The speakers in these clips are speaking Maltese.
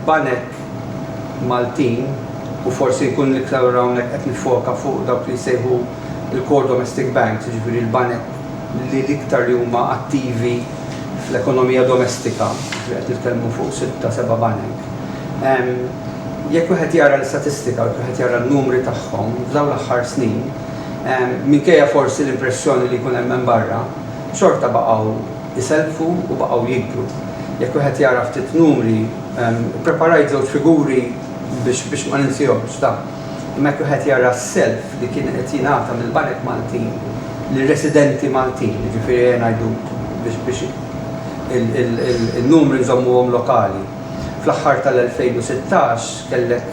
Il-banek Maltin, u forsi jkun l-iktar ora hawnhekk qed niffoka fuq dawk li jsejħu l-core domestic banks, jiġifieri l-banek li l-iktar li huma attivi fl-ekonomija domestika, jiġifieri qed nitkellmu fuq sitta, seba' banek. Jekk wieħed jara l-istatistika, jekk wieħed jara n-numri tagħhom f'dawn l-aħħar snin, minkejja forsi l-impressjoni li jkun hemm hemm barra, xorta baqgħu, iselfu u baqgħu jikbru. Jekk wieħed jara ftit numri, ippreparajt żewġ figuri biex ma ninsihomx ta', imma jekk wieħed jara s-self li kien qed jingħata mill-banek Maltin lir-residenti Maltin, jiġifieri ejja ngħidu biex in-numri nżommuhom lokali, fl-aħħar tal-2016 kellek,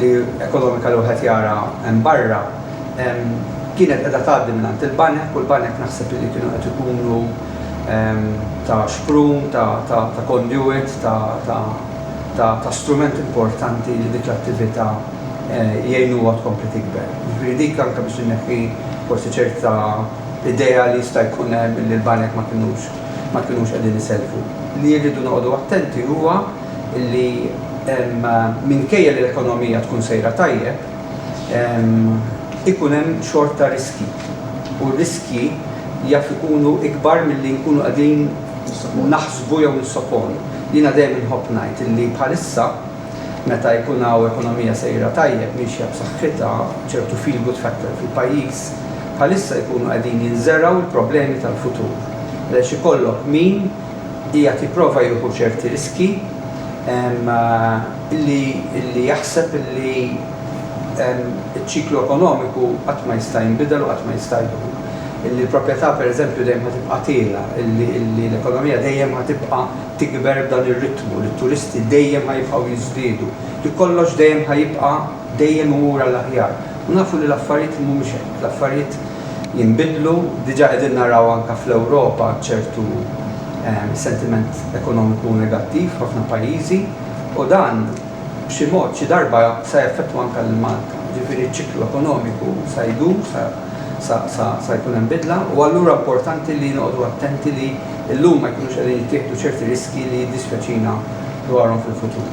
li ekonomika li wieħed jara hemm barra kienet qiegħda tgħaddi mingħand il-banek u l-banek naħseb illi kienu qed ikunu ta' xprun, ta' conduit, ta' strument importanti li dik l-attività jgħinuha tkompli tikber. Jiġifieri dik anke biex inneħħi forsi ċerta idea li jista' jkun hemm illi l-banek ma kinux qegħdin isellfu. Li rridu noqogħdu attenti huwa li minkejja li l-ekonomija tkun sejra tajjeb, ikun hemm xorta riskji u r-riskji jaf ikunu ikbar milli nkunu qegħdin naħsbu jew nissoponu. Jiena dejjem inħobb ngħid li bħalissa meta jkun hawn ekonomija sejra tajjeb, miexja b'saħħitha, ċertu feel good factor fil-pajjiż, bħalissa jkunu qegħdin jinżergħu l-problemi tal-futur għaliex ikollok min, qiegħed jipprova jieħu ċerti riskji illi jaħseb illi ċ-ċiklu ekonomiku qatt ma jista' jinbidel u qatt ma jista' jdum. Illi l-proprjetà pereżempju dejjem ħa tibqa' tiegħla, illi l-ekonomija dejjem ħa tibqa' tikber b'dan ir-ritmu, li t-turisti dejjem ħa jibqgħu jiżdiedu, li kollox dejjem ħa jibqa' dejjem imur għall-aħjar. U nafu li l-affarijiet mhumiex hekk, l-affarijiet. jinbidlu. Diġà qegħdin naraw anke fl-Ewropa ċertu sentiment ekonomiku negattiv f'ħafna pajjiżi u dan b'xi mod xi darba sa jaffettwa anke lil Malta. Jiġifieri ċ-ċiklu ekonomiku sa jdur, sa jkun hemm bidla u allura importanti li noqogħdu attenti li llum ma jkunux qegħdin jittieħdu ċerti riskji li jiddispjaċina dwarhom fil-futur.